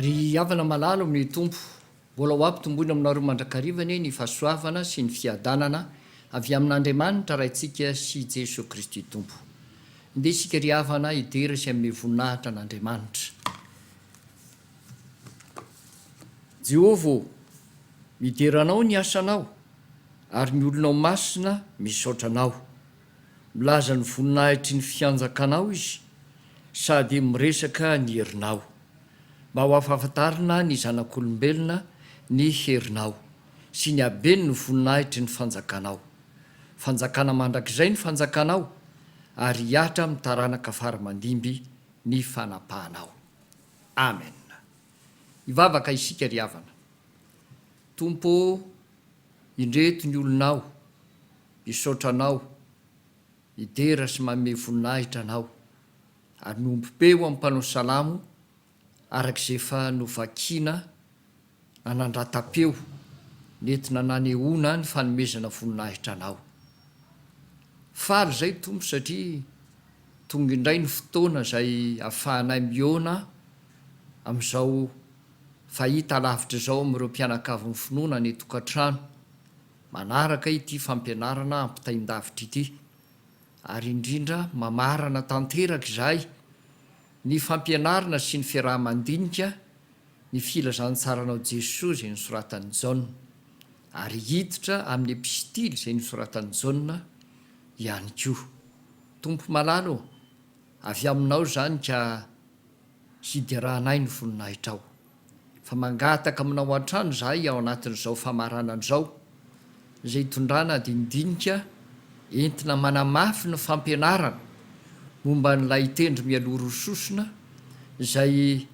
Ry havana malala ao amin'ny Tompo, mbola ho ampitomboina aminareo mandrakariva anie ny fahasoavana sy ny fiadanana avy amin'Andriamanitra Raintsika sy Jesoa Kristy Tompo. Ndeha isika ry havana hidera sy hanome voninahitra an'Andriamanitra. Jehovah ô, midera Anao ny asanao. Ary ny olonao masina misaotra anao. Milaza ny voninahitry ny fianjakanao izy sady miresaka ny herinao. Mba ho afahafantarina ny zanak'olombelona ny herinao sy ny haben' ny voninahitry ny fanjakanao. Fanjakana mandrakizay ny fanjakanao ary hihatra amin'ny taranaka fara mandimby ny fanapahanao. Amen. Hivavaka isika ry havana. Tompo ô! Indreto ny olonao, misaotra anao, midera sy manome voninahitra anao, ary miombom-peo amin'ny mpanao salamo araka izay efa novakina nanandratam-peo nentina nanehoana ny fanomezana voninahitra anao. Faly izay Tompo satria tonga indray ny fotoana izay ahafahanay mihaona amin'izao Fahita alavitra izao amin'ireo mpianakavin'ny finoana ny tokantrano manaraka ity fampianarana ampitain-davitra ity, ary indrindra mamarana tanteraka izay ny fampianarana sy ny fiaraha-mandinika ny filazantsaranao Jesoa izay nosoratan'i Jaona, ary hiditra amin'ny epistily izay nosoratan'i Jaona ihany koa. Tompo malala ô, avy Aminao izany ka. hiderahanay ny voninahitrao. Fa mangataka aminao hatrany izahay ao anatin'izao famaranana izao, izay hitondrana dinidinika entina manamafy ny fampianarana momba an'ilay tendro mialoha roa sosona izay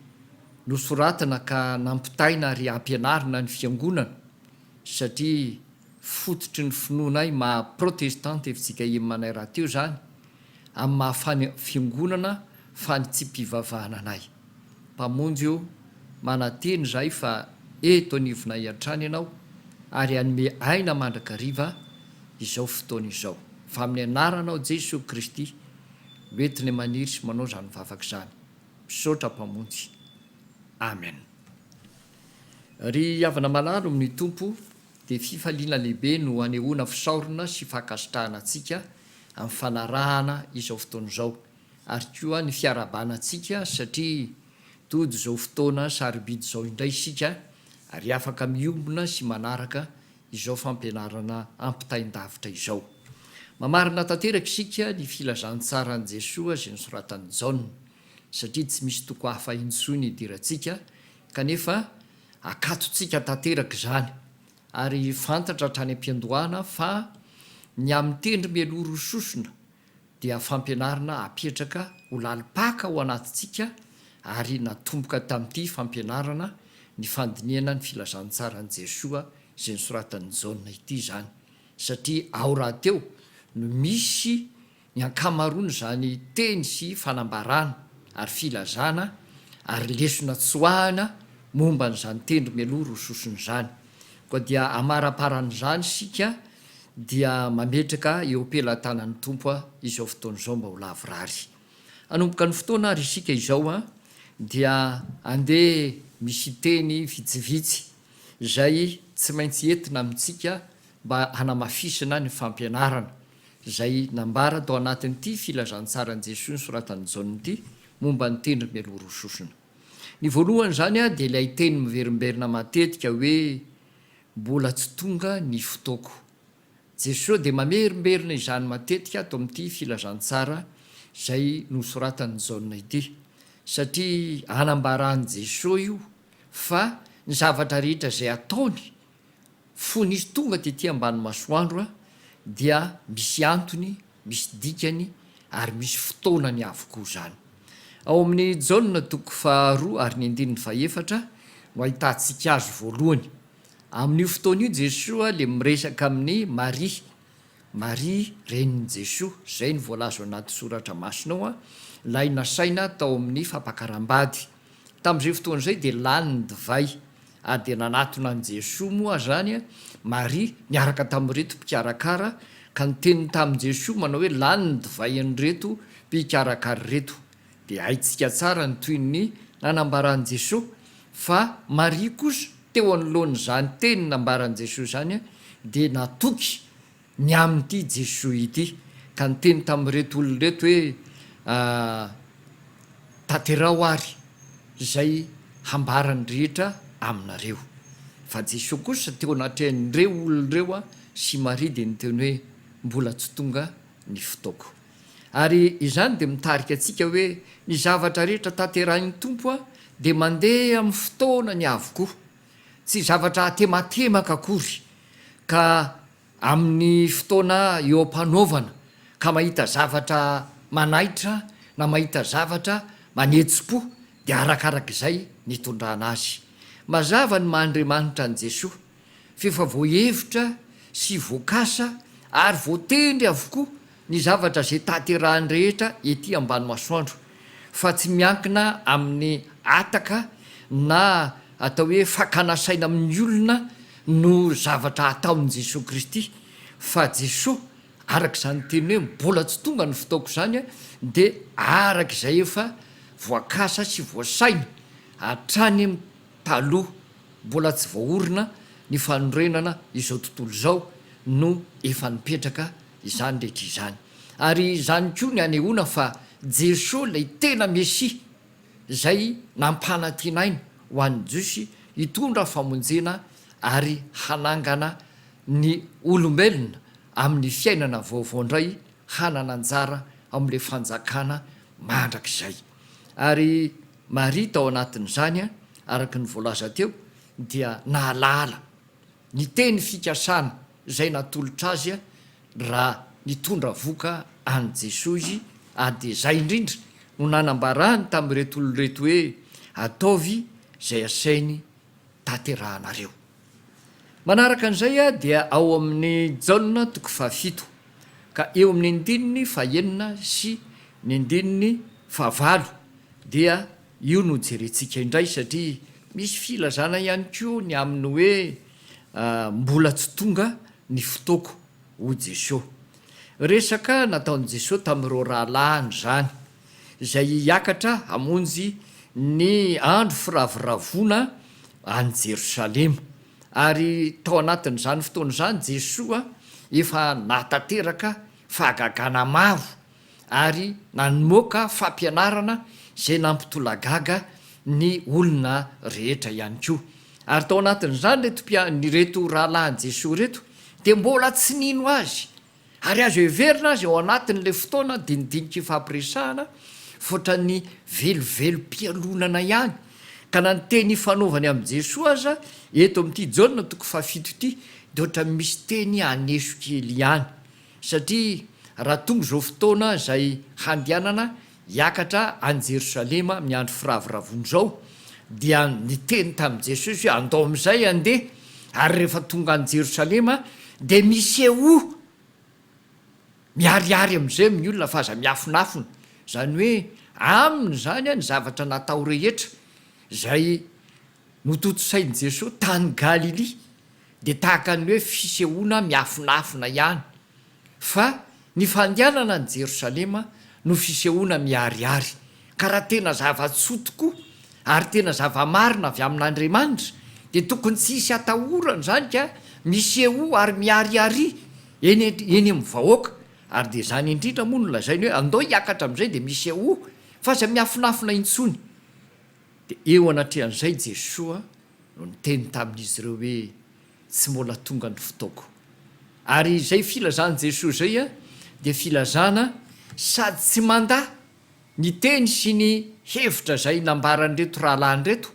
nosoratana ka nampitaina ary ampianarina ny Fiangonana, satria fototry ny finoanay maha Protestanta FJKM anay rahateo izany, amin'ny maha fany fiongonana fany tsy mpivavahana anay. Mpamonjy o, manantena izahay fa eto anivonay hatrany Ianao ary hanome aina mandrakariva izao fotoana izao. Fa amin'ny Anaranao Jesoa Kristy no entinay maniry sy manao izany vavaka izany. Misaotra Mpamonjy. Amen. Ry havana malalo amin'ny Tompo, dia fifaliana lehibe no anehoana fisaorana sy fankasitrahana antsika amin'ny fanarahana izao fotoana izao ary koa ny fiarahabana antsika satria tody izao fotoana sarobidy izao indray isika ary afaka miombona sy manaraka izao fampianarana ampitain-davitra izao. Mamarina tanteraka isika ny filazantsaran'i Jesoa izay nosoratan'i Jaona satria tsy misy toko hafa intsony idirantsika kanefa akatontsika tanteraka izany Ary fantatra hatrany am-piandohana fa ny amin'ny tendry mialoha roa sosona dia fampianarana apetraka ho lalim-paka ao anatintsika ary natomboka tamin'ity fampianarana ny fandinihana ny filazantsaran'i Jesoa izay nosoratan'i Jaona ity izany satria ao rahateo no misy ny ankamaroan'izany teny sy fanambarana ary filazana ary lesona tsoahina momba an'izany tendro mialoha roa sosona izany. Koa dia amaraparan'izany isika dia mametraka eo pelatanan'ny Tompo izao fotoana izao mba ho lavorary. Hanomboka ny fotoana ary isika izao dia andeha misy teny vitsivitsy izay tsy maintsy entina amintsika mba hanamafisana ny fampianarana. izay nambara tao anatin'ity filazantsaran'i Jesoa nosoratan'i Jaona ity momba ny tendry mialoha roa sosona. Ny voalohany izany dia ilay teny miverimberina matetika hoe mbola tsy tonga ny fotoako. Jesoa dia mamerimberina izany matetika ato amin'ity filazantsara izay nosoratan'i Jaona ity, satria anambaran'i Jesoa io fa ny zavatra rehetra izay ataony Fony izy tonga tety ambany masoandro a, dia misy antony, misy dikany ary misy fotoanany avokoa izany. Ao amin'ny Jaona toko faharoa ary ny andininy fahefatra no ahitantsika azy voalohany. Amin'io fotoana io Jesoa ilay miresaka amin'i Maria, Maria renin'i Jesoa, izay no voalaza ao anaty soratra masina ao, ilay nasaina tao amin'ny fampakaram-bady. Tamin'izay fotoana izay dia lany ny divay ary dia nanatona an'i Jesoa moa izany Maria niaraka tamin'ireto mpikarakara ka niteny tamin'i Jesoa manao hoe lany ny divain'ireto mpikarakara ireto. Dia haintsika tsara ny tohin'ny nanambaran'i Jesoa fa Maria kosa teo anoloan'izany teny nambaran'i Jesoa izany dia natoky ny amin'ity Jesoa ity, ka niteny tamin'ireto olona ireto hoe, Tanteraho àry izay hambaran'ny rehetra aminareo. Fa Jesoa kosa teo anatrehan'ireo olona ireo sy Maria dia niteny hoe, Mbola tsy tonga ny fotoako. Ary izany dia mitarika antsika hoe ny zavatra rehetra tanterahin'ny Tompo dia mandeha amin'ny fotoanany avokoa. Tsy zavatra atematemaka akory ka amin'ny fotoana eo am-panaovana ka mahita zavatra manaitra na mahita zavatra manetsi-po dia arakaraka izay ny itondrana azy. Mazava ny maha Andriamanitra an'i Jesoa f'efa voahevitra sy voakasa ary voatendry avokoa ny zavatra izay tanterahiny rehetra ety ambany masoandro fa tsy miankina amin'ny hataka na atao hoe fakana saina amin'ny olona no zavatra ataon'i Jesoa Kristy fa Jesoa araka izany niteniny hoe mbola tsy tonga ny fotoako izany dia araka izay efa voakasa sy voasaina hatrany taloha mbola tsy voaorina ny fanorenana izao tontolo izao no efa nipetraka Izany rehetra izany. Ary izany koa ny hanehoana fa Jesoa ilay tena Mesia izay nampanantinaina ho an'ny Jiosy hitondra famonjena ary hanangana ny olombelona amin'ny fiainana vaovao indray hanana anjara ao amin'ilay fanjakana mandrakizay. Ary Maria tao anatin'izany araka ny voalaza teo dia nahalala ny teny fikasana. izay natolotra azy raha nitondra voka an'i Jesoa izy ary dia izay indrindra no nanambarany tamin'ireto olona ireto hoe, Ataovy izay asainy tanterahanareo. Manaraka an'izay dia ao amin'i Jaona toko fahafito ka eo amin'ny andininy fahenina sy ny andininy fahavalo dia. Io no jerentsika indray satria misy filazana ihany koa ny amin'ny hoe mbola tsy tonga ny fotoako hoy Jesosy. Resaka nataon'i Jesosy tamin'ireo rahalahiny izany izay hiakatra hamonjy ny andro firavoravoana any Jerosalema ary tao anatin'izany fotoana izany Jesosy efa nahatanteraka fahagagana maro ary namoaka fampianarana izay nampitolagaga ny olona rehetra ihany koa. Ary tao anatin'izany ireto mpia, ireto rahalahin'i Jesoa ireto dia mbola tsy nino Azy. Ary azo heverina aza ao anatin'ilay fotoana dinidinika ifampiresahana fa ohatran'ny velovelom-pialonana ihany. Ka na ny teny ifanaovany amin'i Jesoa aza eto amin'ity Jaona toko fahafito ity dia ohatran'ny misy teny haneso kely ihany. Satria raha tonga izao fotoana izay handehanana hiakatra any Jerosalema amin'ny andro firavoravoana izao, dia niteny tamin'i Jesosy hoe, Andao amin'izay handeha, ary rehefa tonga any Jerosalema, dia misehoa miharihary amin'izay amin'ny olona fa aza miafonafona. Izany hoe, aminy izany ny zavatra natao rehetra izay. Notontosain'i Jesoa tany Galilia dia tahaka ny hoe fisehoana miafinafina ihany, fa ny fandehanana any Jerosalema no fisehoana miharihary. Ka raha tena zava-tsoa tokoa ary tena zava-marina avy amin'Andriamanitra dia tokony tsy hisy atahorana izany ka misehoa ary miharihary eny eny amin'ny vahoaka. Ary dia izany indrindra moa no lazainy hoe andao hiakatra amin'izay dia misehoa fa aza miafinafina intsony. Dia eo anatrehan'izay Jesoa no niteny tamin'izy ireo hoe, Tsy mbola tonga ny fotoako. Ary izay filazan'i Jesoa izay dia filazana sady tsy mandà ny teny sy ny hevitra izay nambaran'ireto rahalahy ireto,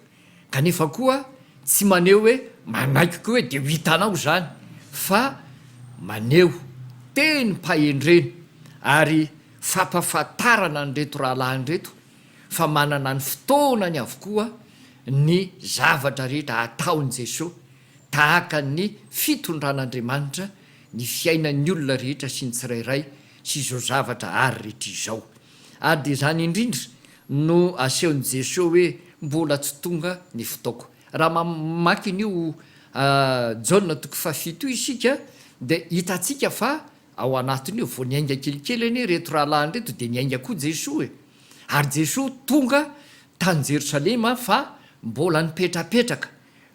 kanefa koa tsy maneho hoe manaiky koa hoe dia ho hitanao izany, fa maneho tenim-pahendrena ary fampahafantarana an'ireto rahalahy ireto fa manana ny fotoanany avokoa ny zavatra rehetra ataon'i Jesoa, tahaka ny fitondran'Andriamanitra ny fiainan'ny olona rehetra sy ny tsirairay sy izao zavatra ary rehetra izao. Ary dia izany indrindra no asehon'i Jesoa hoe mbola tsy tonga ny fotoako. Raha mamaky an'io Jaona toko fahafito io isika dia hitantsika fa Ao anatin'io vao niainga kelikely anie ireto rahalahiny ireto dia niainga koa Jesoa e! Ary Jesoa tonga tany Jerosalema fa mbola nipetrapetraka,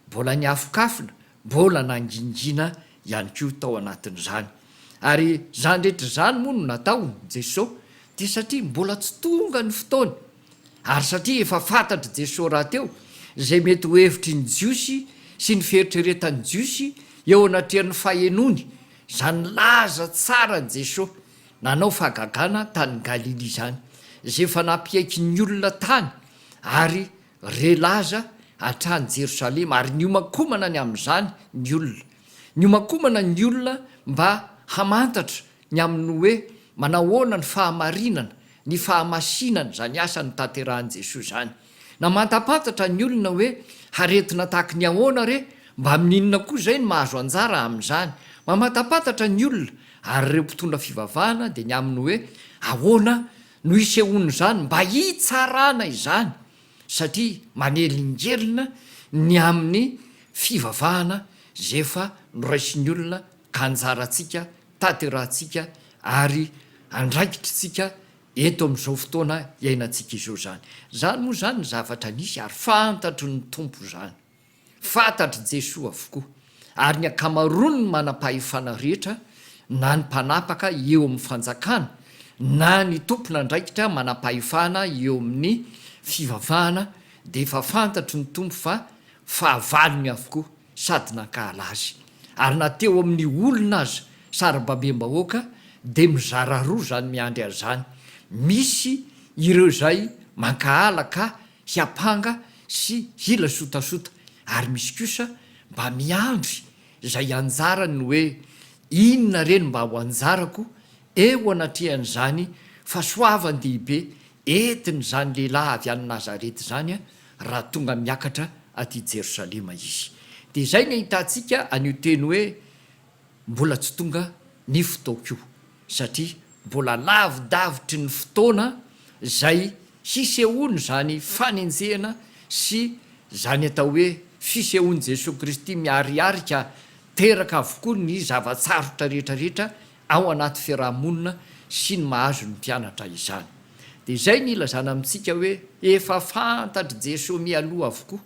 mbola niafokafona, mbola nangingina ihany koa tao anatin'izany. Ary izany rehetra izany moa no nataony Jesoa dia satria mbola tsy tonga ny fotoany. Ary satria efa fantatr'i Jesoa rahateo izay mety ho hevitry ny Jiosy sy ny fieritreretan'ny Jiosy eo anatrehan'ny fahenoany, Izany nilaza tsara an'i Jesoa nanao fahagagana tany Galilia izany, izay efa nampiaiky ny olona tany ary re laza hatrany Jerosalema, ary niomankomana ny amin'izany ny olona. Niomankomana ny olona mba hamantatra ny amin'ny hoe manahoana ny fahamarinana, ny fahamasinana izany asa notanterahin'i Jesoa izany. Na mantampantatra ny olona hoe haretina tahaky ny ahoana re, mba amin'ny inona koa izay no mahazo anjara amin'izany? Mamantampantatra ny olona ary ireo mpitondra fivavahana dia ny amin'ny hoe ahoana no isehoan'izany mba hitsarana izany satria manelingelina ny amin'ny fivavahana izay efa noraisin'ny olona ka anjarantsika, tanterahantsika ary andraikitritsika Eto amin'izao fotoana iainantsika izao izany. Izany moa izany ny zavatra nisy ary fantatry ny Tompo izany. Fantatr'i Jesoa avokoa. Ary ny ankamaroan'ny manam-pahefana rehetra, na ny mpanapaka eo amin'ny fanjakana, na ny tompon'andraikitra manam-pahefana eo amin'ny fivavahana dia efa fantatry ny Tompo fa fahavalony avokoa. sady nankahala azy. Ary na teo amin'ny olona aza sarababem-bahoaka dia mizara roa izany miandry azy izany, misy ireo izay mankahala ka hiampanga sy hila sotasota ary misy kosa mba miandry izay anjarany hoe inona re ny mba ho anjarako eo anatrehan'izany fahasoavan-dehibe entin'izany lehilahy avy any Nazareta izany raha tonga miakatra aty Jerosalema Izy. Dia izay ny ahitantsika an'io teny hoe mbola tsy tonga ny fotoako io, satria mbola lavidavitry ny fotoana izay hisehoan'izany fanenjehana sy izany atao hoe fisehoan'i Jesoa Kristy miariarika teraka avokoa ny zava-tsarotra rehetra rehetra ao anaty fiaraha-monina sy ny mahazo ny mpianatra izany. Dia izay ny ilazana amintsika hoe efa fantatr'i Jesoa mialoha avokoa.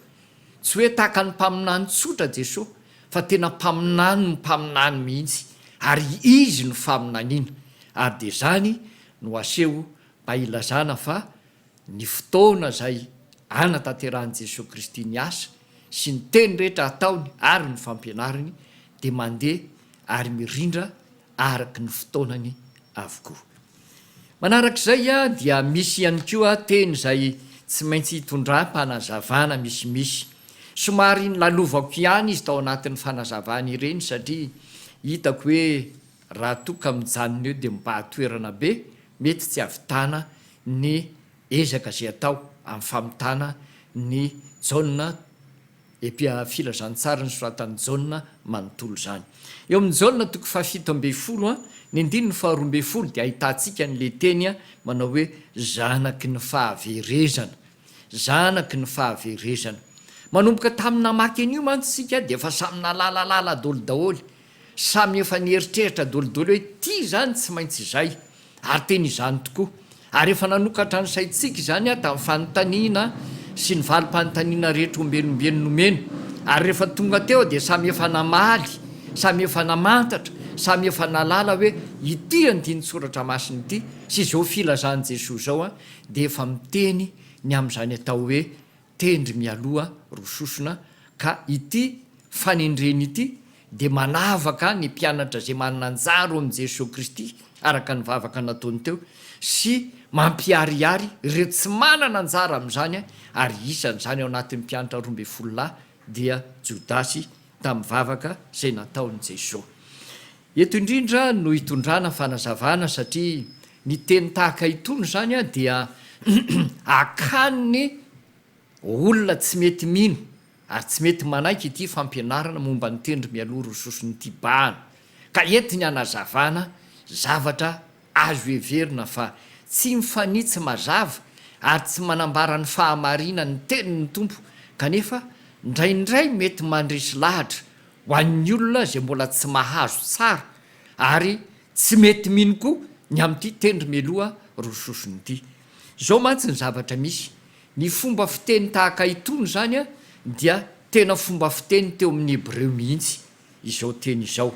Tsy hoe tahaka ny mpaminany tsotra Jesoa fa tena mpaminanin'ny mpaminany mihitsy ary Izy no faminaniana ary dia izany no aseho mba ilazana fa Ny fotoana izay anatanterahan'i Jesoa Kristy ny asa sy ny teny rehetra ataony ary ny fampianariny dia mandeha ary mirindra araka ny fotoanany avokoa. Manaraka izay dia misy ihany koa teny izay tsy maintsy hitondram-panazavana misimisy. Somary nolalovako ihany izy tao anatin'ny fanazavana ireny satria hitako hoe. Raha toa ka mijanona eo dia mibaha toerana be, mety tsy hahavitana ny ezaka izay atao amin'ny famitana ny Jaona epia filazantsara ny soratan'i Jaona manontolo izany. Eo amin'ny Jaona toko fahafito ambin'ny folo, ny andininy faharoa ambin'ny folo dia ahitantsika an'ilay teny manao hoe zanaky ny fahaverezana. Zanaky ny fahaverezana. Manomboka tamin'ny namaky an'io mantsy isika dia efa samy nahalala lala-doly daholo. Samy efa nieritreritra dolidoly hoe ity izany tsy maintsy izay. Ary tena izany tokoa. Ary efa nanokatra ny saintsika izany tamin'ny fanontaniana sy ny valim-panontaniana rehetra ombieny-ombieny nomena. Ary rehefa tonga teo dia samy efa namaly, samy efa namantatra, samy efa nahalala hoe ity andinin-tsoratra masina ity sy izao filazan'i Jesoa izao dia efa miteny ny amin'izany atao hoe tendry mialoha roa sosona ka ity fanendreny ity dia manavaka ny mpianatra izay manan-jaro amin'i Jesoa Kristy araka ny vavaka nataony teo sy mampiharihary ireo tsy manana anjara amin'izany ary isan'izany ao anatin'ny mpiantra roa ambin'ny folo lahy dia Jodasy tamin'ny vavaka izay nataon'i Jesoa Eto indrindra no hitondrana fanazavana satria ny teny tahaka itony izany dia akàn'ny olona tsy mety mino ary tsy mety manaiky ity fampianarana momba ny tendry mialoha roa sosony ity bahana ka entiny hanazavana zavatra azo heverina fa tsy mifanitsy mazava ary tsy manambara ny fahamarinan'ny tenin'ny Tompo kanefa ndraindray mety mandresy lahatra Ho an'ny olona izay mbola tsy mahazo tsara ary tsy mety mino koa ny amin'ity tendry mialoha roa sosony ity. Izao mantsy ny zavatra misy, ny fomba fiteny tahaka itony izany dia tena fomba fiteny teo amin'ny Hebreo mihitsy izao teny izao,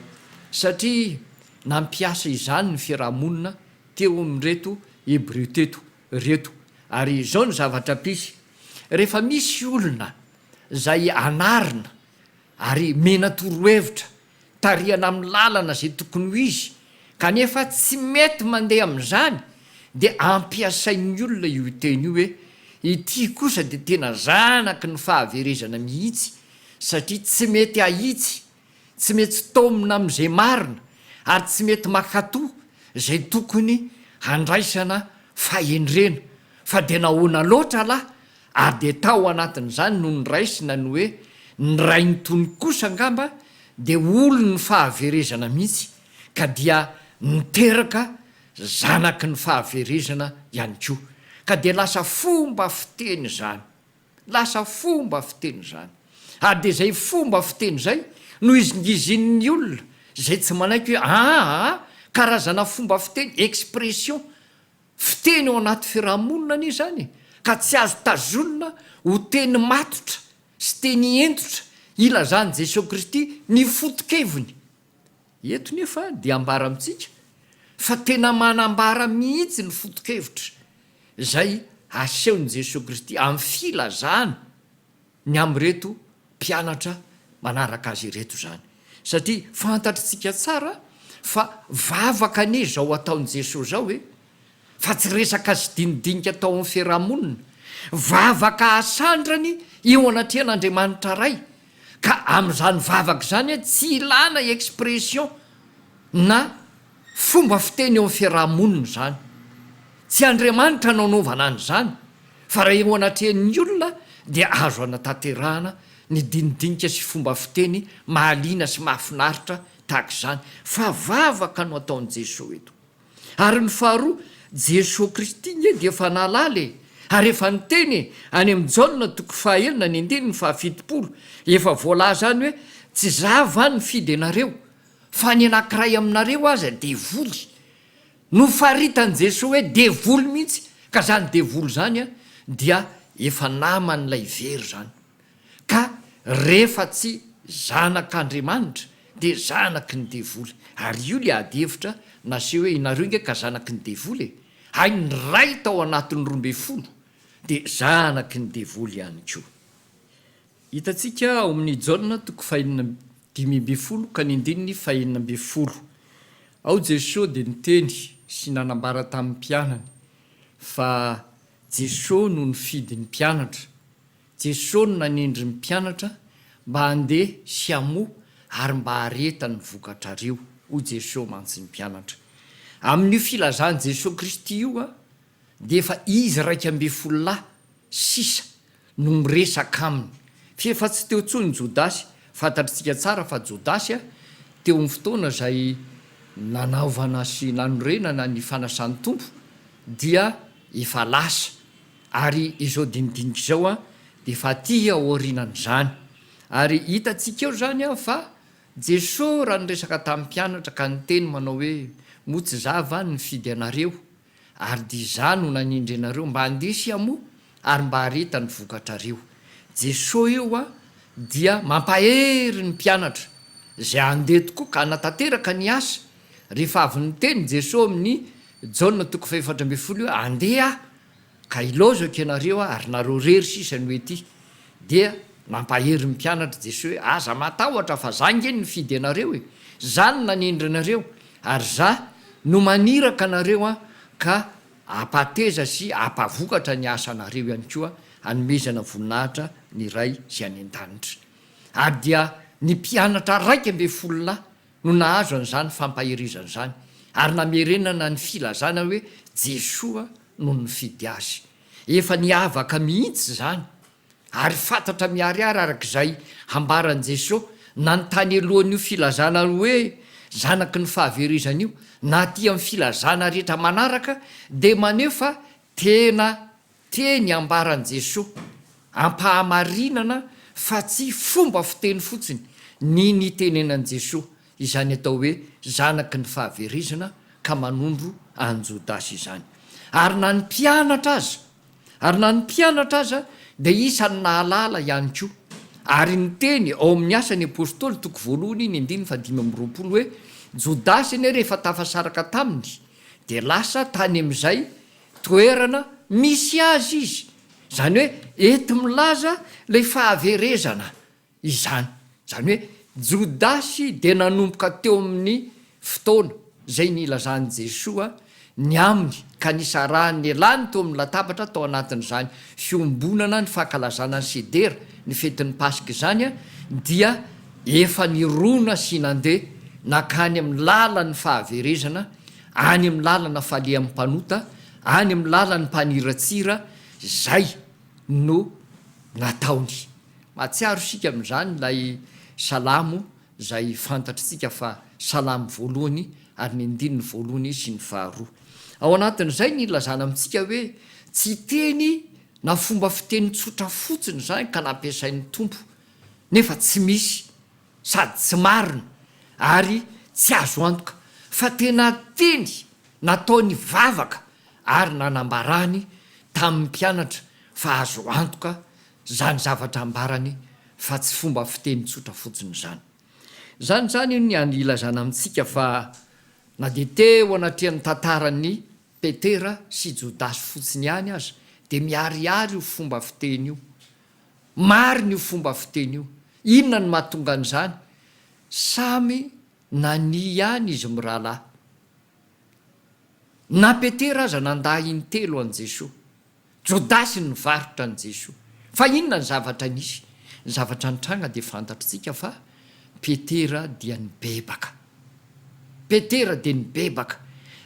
satria nampiasa izany ny fiarahamonina teo amin'ireto Hebreo teto ireto. Ary izao ny zavatra mpisy, rehefa misy olona izay anarina Ary mena torohevitra tarihana amin'ny lalana izay tokony ho izy kanefa tsy mety mandeha amin'izany dia ampiasain'ny olona io teny io hoe ity kosa dia tena zanaky ny fahaverezana mihitsy satria tsy mety ahitsy, tsy metsy taomina amin'izay marina ary tsy mety makato izay tokony handraisana fahendrena fa dia nahoana loatra lah Ary dia tao anatin'izany no niraisina ny hoe ny rain'i Tony kosa angamba dia olon'ny fahaverezana mihitsy ka dia niteraka zanaky ny fahaverezana ihany koa. Ka dia lasa fomba fiteny izany. Lasa fomba fiteny izany. Ary dia izay fomba fiteny izay no izingizinin'ny olona izay tsy manaiky hoe aa karazana fomba fiteny, expression, Fiteny ao anaty firahamonina anie izany e! Ka tsy azo tazonina ho teny matotra sy teny hentotra ilazan'i Jesoa Kristy ny foto-keviny. Eto nefa dia ambara amintsika fa tena manambara mihitsy ny foto-kevitra izay asehon'i Jesoa Kristy amin'ny filazana. ny amin'ireto mpianatra manaraka azy ireto izany, satria fantatritsika tsara fa vavaka anie izao ataon'i Jesoa izao e, fa tsy resaka sy dinidinika tao amin'ny fiaraha-monina, vavaka asandrany eo anatrehan'Andriamanitra Ray, ka amin'izany vavaka izany tsy ilana expression na. Fomba fiteny eo amin'ny fiaraha-monina izany. Tsy Andriamanitra no anaovana an'izany, fa raha eo anatrehan'ny olona dia azo anatanterahana ny dinidinika sy fomba fiteny mahaliana sy mahafinaritra tahaka izany, fa vavaka no ataon'i Jesoa eto. Ary ny faharoa, Jesoa Kristy nge dia efa nahalala e! Ary efa niteny e! Any amin'ny Jaona toko fahaenina ny andininy fahafitopolo, efa voalaza any hoe, Tsy za va nifidy anareo? Fa ny anankiray aminareo aza devoly. Nofaritan'i Jesoa hoe devoly mihitsy ka zany devoly zany dia efa naman'ilay very zany. Ka refa tsy zanak'Andriamanitra dia zanaky ny devoly. Ary io le ady hevitra naseho hoe inareo nge ka zanaky ny devoly e. Hay ny ray tao anatin'ny roa ambin'ny folo dia zanaky ny devoly ihany koa. Hitantsika ao amin'ny Jaona toko fahenina amby dimy ambin'ny folo ka ny andininy fahenina ambin'ny folo. Ao Jesoa dia niteny sy nanambara tamin'ny mpianany fa Jesoa no nifidy ny mpianatra. Jesoa no nanendry ny mpianatra mba handeha sy hamoha ary mba hareta ny vokatrareo, hoy Jesoa mantsy ny mpianatra. Amin'io filazan'i Jesoa Kristy io, dia efa izy iraika ambin'ny folo lahy sisa no miresaka aminy. Fa efa tsy teo intsony Jodasy. Fantatritsika tsara fa Jodasy teo amin'ny fotoana izay nanaovana sy nanorenana ny fanasan'ny Tompo dia efa lasa. Ary izao dinidinika izao dia efa aty aorianan'izany. Ary hitantsika eo izany fa Jesoa raha niresaka tamin'ny mpianatra ka niteny manao hoe, Moa tsy Izaho va no nifidy anareo? Ary dia izaho no nanindry anareo mba handeha sy hamoa ary mba hareta ny vokatrareo. Jeso io dia mampahery ny mpianatra izay handeha tokoa ka hanatanteraka ny asa. Rehefa avy niteny Jeso amin'ny Jaona toko fahefatra ambin'ny folo hoe, Andeha Aho, ka hilaozako ianareo ary nareo irery sisa no ety. Dia nampahery ny mpianatr' Jesoa hoe, Aza matahotra fa za nge nifidy anareo e! Za no nanendry anareo ary za no maniraka anareo an ka ampateza sy ampavokatra ny asanareo ihany koa anomezana voninahitra ny Ray izay any an-danitra. Ary dia ny mpianatra iraika ambin'ny folo lahy no nahazo an'izany fampaherezana izany ary namerenana ny filazana hoe Jesoa no nifidy azy. Efa niavaka mihitsy izany, ary fantatra miharihary araka izay hambaran'i Jesoa nanontany elohan'io filazana hoe zanaky ny fahaverezana io, na aty amin'ny filazana rehetra manaraka dia maneho fa tena teny ambaran'i Jesoa am-pahamarinana fa tsy fomba fiteny fotsiny ny nitenenan'i Jesoa. Izany atao hoe zanaky ny fahaverezana ka manondro an'i Jodasy izany. Ary na ny mpianatra aza, ary na ny mpianatra aza dia isan'ny nahalala ihany koa. Ary niteny ao amin'ny Asan'ny Apostoly toko voalohany iny andininy fahadimy amby roapolo hoe, Jodasy anie rehefa tafasaraka taminy dia lasa tany amin'izay toerana misy azy izy. Izany hoe enti-milaza ilay fahaverezana. Izany. Izany hoe Jodasy dia nanomboka teo amin'ny fotoana izay nilazan'i Jesoa ny aminy ka nisarahany ny lany teo amin'ny latabatra tao anatin'izany fiombonana ny fankalazana ny Sedera, ny fetin'ny Paska izany, dia efa nirona sy nandeha nankany amin'ny lalan'ny fahaverezana, any amin'ny lalana falehan'ny mpanota, any amin'ny lalan'ny mpaniratsira, izay. no nataony. Mahatsiaro isika amin'izany ilay salamo izay fantatr'tsika fa salamo voalohany ary ny andininy voalohany sy ny faharoa. Ao anatin'izay ny ilazana amintsika hoe tsy teny na fomba fiteny tsotra fotsiny izany ka nampiasain'ny Tompo nefa tsy misy. sady tsy marina ary tsy azo antoka fa tena teny nataony vavaka ary nanambarany tamin'ny mpianatra fa azo antoka izany zavatra ambarany fa tsy fomba fiteny tsotra fotsiny izany. Izany izany ny ilazana amintsika fa na dia teo anatrehan'ny tantaran'i Petera sy Jodasy fotsiny ihany aza dia miharihary io fomba fiteny io Marina io fomba fiteny io. Inona no mahatonga an'izany? Samy nania ihany izy mirahalahy. Na Petera aza nandà intelo an'i Jesoa. Jodasy nivarotra an'i Jesoa. Fa inona ny zavatra nisy? Ny zavatra nitranga dia fantatr'tsika fa. Petera dia nibebaka. Petera dia nibebaka,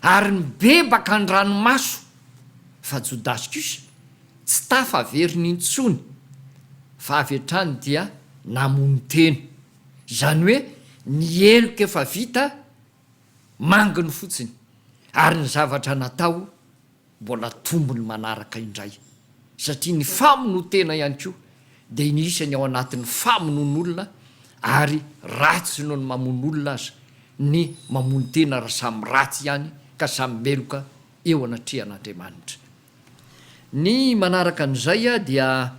ary nibebaka an-dranomaso, fa Jodasy kosa tsy tafaverina intsony, fa avy hatrany dia namono tena. Izany hoe ny heloka efa vita manginy fotsiny, ary ny zavatra natao. mbola tombony manaraka indray satria ny famonoan-tena ihany koa dia inisan'ny ao anatin'ny famonoan'olona ary ratsy noho ny mamono olona aza ny mamono tena raha samy ratsy ihany ka samy meloka eo anatrehan'Andriamanitra. Ny manaraka an'izay dia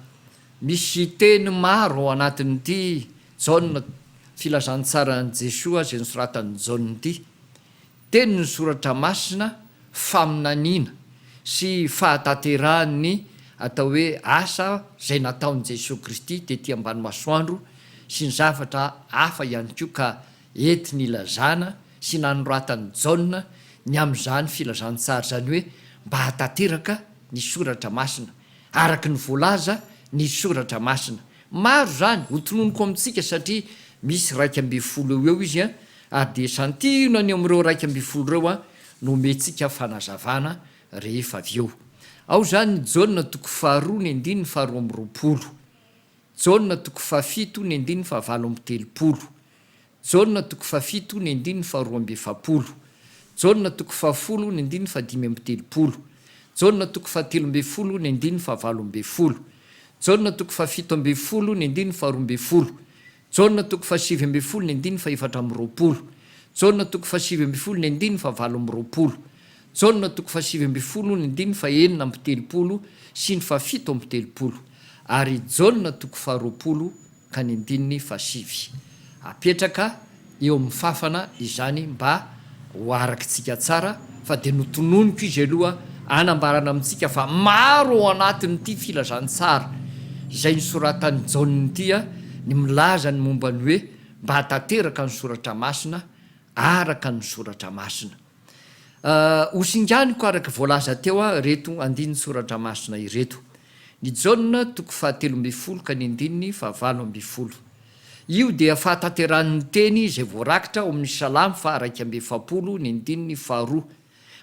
misy teny maro ao anatin'ity Jaona, Filazantsaran'i Jesoa izay nosoratan'i Jaona ity Tenin'ny Soratra Masina, faminaniana, sy fahatanterahan'ny atao hoe asa izay nataon'i Jesoa Kristy tety ambany masoandro sy ny zavatra hafa ihany koa ka ety nilazana sy nanoratan'i Jaona ny amin'izany filazantsara izany hoe mba hahatanteraka ny Soratra Masina araka ny voalaza ny Soratra Masina. Maro izany, hotononiko amintsika satria misy iraika ambin'ny folo eo ho eo izy Ary dia santionany eo amin'ireo iraika ambin'ny folo ireo aho no omentsika fanazavana rehefa avy eo. Ao izany ny Jaona toko faharoa ny andininy faharoa amby roapolo, Jaona toko fahafito ny andininy fahavalo amby telopolo, Jaona toko fahafito ny andininy faharoa amby efapolo, Jaona toko fahafolo ny andininy fahadimy amby telopolo, Jaona toko fahatelo ambin'ny folo ny andininy fahavalo ambin'ny folo, Jaona toko fahafito ambin'ny folo ny andininy faharoa ambin'ny folo, Jaona toko fahasivy ambin'ny folo ny andininy fahefatra amby roapolo. Jaona toko fahasivy ambin'ny folo ny andininy fahavalo amby roapolo. Jaona toko fahasivy ambin'ny folo ny andininy fahenina amby telopolo sy ny fahafito amby telopolo. Ary Jaona toko faharoapolo ka ny andininy fahasivy. Apetraka eo amin'ny fafana izany mba Ho arakitsika tsara fa dia notononiko izy aloha hanambarana amintsika fa maro ao anatin'ity filazantsara izay nosoratan'i Jaona ity ny milaza ny momba ny hoe mba hatanteraka ny soratra masina araka ny soratra masina. Hosinganiko araka voalaza teo ireto andinin-tsoratra masina ireto. Ny Jaona toko fahatelo ambin'ny folo ka ny andininy fahavalo ambin'ny folo. Io dia fahatanterahan' ny teny izay voarakitra ao amin' ny Salamo faha iraika amby efapolo ny andininy faharoa.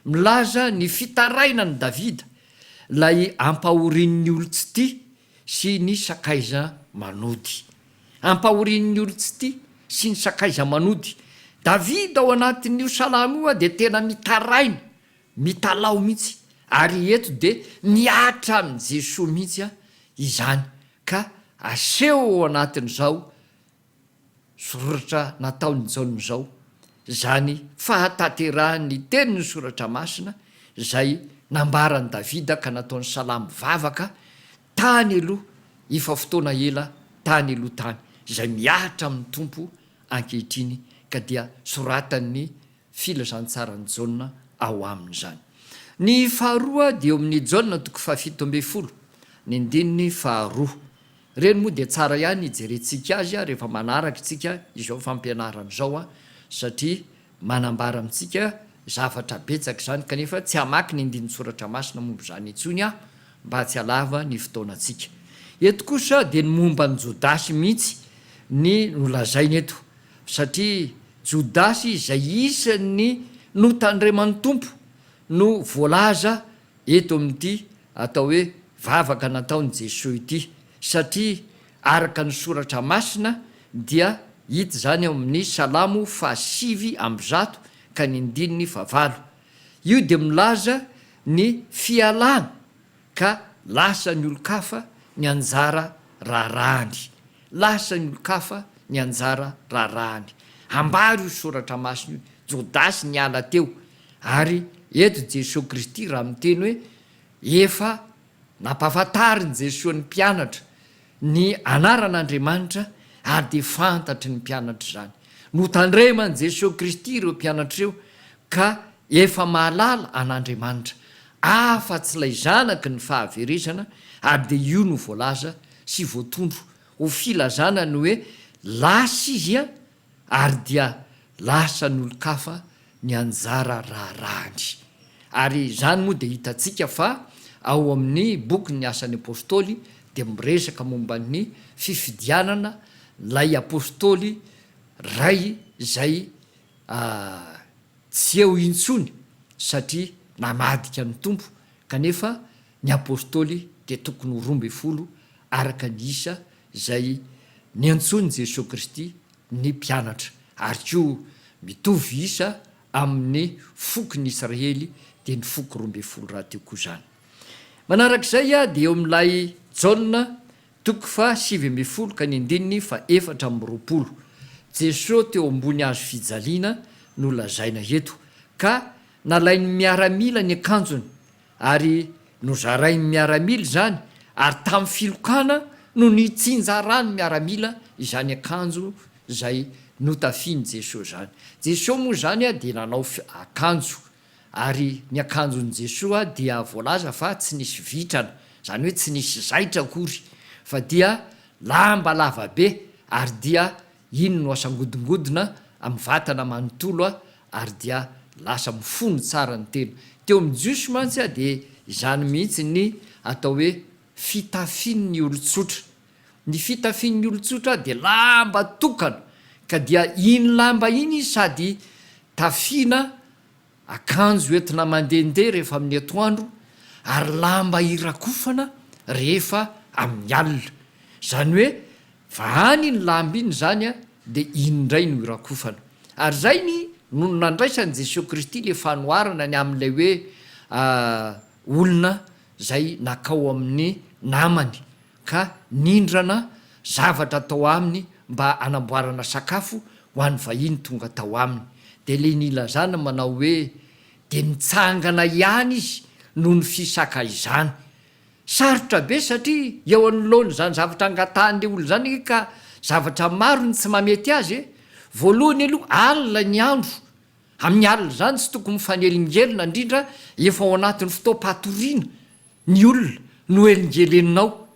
Milaza ny fitarainan' i Davida, ilay ampahorian' ny olon-tsy tia sy ny sakaiza manody. Ampahorian' ny olon-tsy tia sy ny sakaiza manody. Davida ao anatin' io salamo io dia tena mitaraina, mitalaho mihitsy, ary eto dia mihatra amin' i Jesoa mihitsy izany Ka aseho ao anatin'izao soratra nataon'i Jaona izao izany fahatanterahan'ny tenin'ny Soratra Masina izay nambaran'i Davida ka nataon'i Salamo vavaka tany aloha efa fotoana ela tany aloha tany, izay mihatra amin'ny Tompo ankehitriny ka dia soratan'ny filazantsaran'i Jaona ao aminy izany. Ny faharoa dia eo amin'ny Jaona toko fahafito ambin'ny folo, ny andininy faharoa. Ireny moa dia tsara ihany hijerentsika azy rehefa manaraka isika izao fampianarana izao satria manambara amintsika zavatra betsaka izany kanefa tsy hamaky ny andinin-tsoratra masina momba izany intsony aho mba tsy halava ny fotoanantsika. Eto kosa dia ny momba an'i Jodasy mihitsy ny nolazaina eto. Satria Jodasy izay isan'ny notandreman'ny Tompo no voalaza eto amin'ity atao hoe vavaka nataon'i Jesoa ity, satria araka ny Soratra Masina dia hita izany ao amin'ny Salamo fahasivy amby zato ka ny andininy fahavalo. Io dia milaza ny fialana ka lasa ny olon-kafa ny anjara raharahany, lasa ny olon-kafa ny anjara raharahany. Ambara io soratra masina io, Jodasy niala teo, ary eto Jesoa Kristy raha miteny hoe efa nampahafantarin'i Jesoa ny mpianatra Ny anaran'Andriamanitra, ary dia fantatry ny mpianatra izany. Notandreman'i Jesoa Kristy ireo mpianatra ireo ka efa mahalala an'Andriamanitra, afa tsy ilay Zanaky ny fahaverezana, ary dia io no voalaza sy voatondro ho filazana ny hoe lasa izy ary dia lasa an'olon-kafa ny anjara raharahany. Ary izany moa dia hitantsika fa ao amin'ny bokin'ny Asan'ny Apôstôly dia miresaka momba ny fifidianana ilay Apôstôly iray izay tsy eo intsony satria namadika ny Tompo kanefa Ny Apostoly dia tokony ho roa ambin'ny folo araka ny isa izay niantsoin'i Jesoa Kristy ny mpianatra, ary koa mitovy isa amin'ny fokon'ny Israely dia ny foko roa ambin'ny folo rahateo koa izany. Manarak'izay dia eo amin'ilay Jaona toko faha sivy ambin'ny folo ka ny andininy faha efatra amby roapolo, Jesoa teo ambony hazo fijaliana no lazaina eto, ka nalain'ny miaramila ny akanjony Ary nozarain'ny miaramila izany ary tamin'ny filokana no nitsinjaran'ny miaramila izany akanjo izay notafian'i Jesoa izany. Jesoa moa izany dia nanao akanjo ary ny akanjon'i Jesoa dia voalaza fa tsy nisy vitrana, izany hoe tsy nisy zaitra akory fa dia lamba lavabe ary dia Iny no asangodingodina amin'ny vatana manontolo aho ary dia lasa mifono tsara ny tena. Teo amin'ny Jiosy mantsy aho dia izany mihitsy ny atao hoe fitafin'ny olon-tsotra. Ny fitafin'ny olon-tsotra dia lamba tokana ka dia iny lamba iny izy sady tafiana Akanjo entina mandehandeha rehefa amin'ny atoandro ary lamba hirakofana rehefa amin'ny alina. Izany hoe vahany iny lamba iny izany dia iny indray no hirakofana. Ary izay ny nony nandraisan'i Jesoa Kristy ilay fanoharana ny amin'ilay hoe olona izay nakao amin'ny namany ka nindrana zavatra tao aminy mba hanamboarana sakafo ho an'ny vahiny tonga tao aminy. Dia ilay nilazana manao hoe, dia nitsangana ihany izy noho ny fisakaizany. Sarotra be satria eo anoloan'izany zavatra angatahan'ilay olona izany anie ka zavatra maro no tsy mahamety azy e! Voalohany aloha alina ny andro Amin'ny alina izany tsy tokony mifanelingelina indrindra efa ao anatin'ny fotoam-patoriana ny olona no elingeleninao.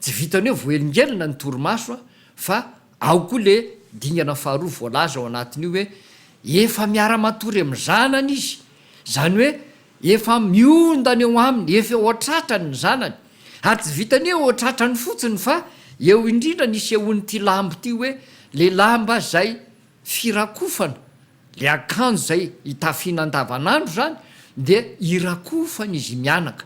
Tsy vitan'ny hoe voaelingelina ny torimaso a! fa ao koa le dingana faharoa voalaza ao anatin'io hoe efa miara-matory amin'ny zanany izy, izany hoe efa miondana eo aminy, efa eo an-tratrany ny zanany. Ary tsy vitan'ny hoe eo an-tratrany fotsiny fa eo indrindra ny isehoan'ity lamba ity hoe le lamba izay. firakofana, le akanjo izay hitafiana andavanandro izany dia irakofany izy mianaka,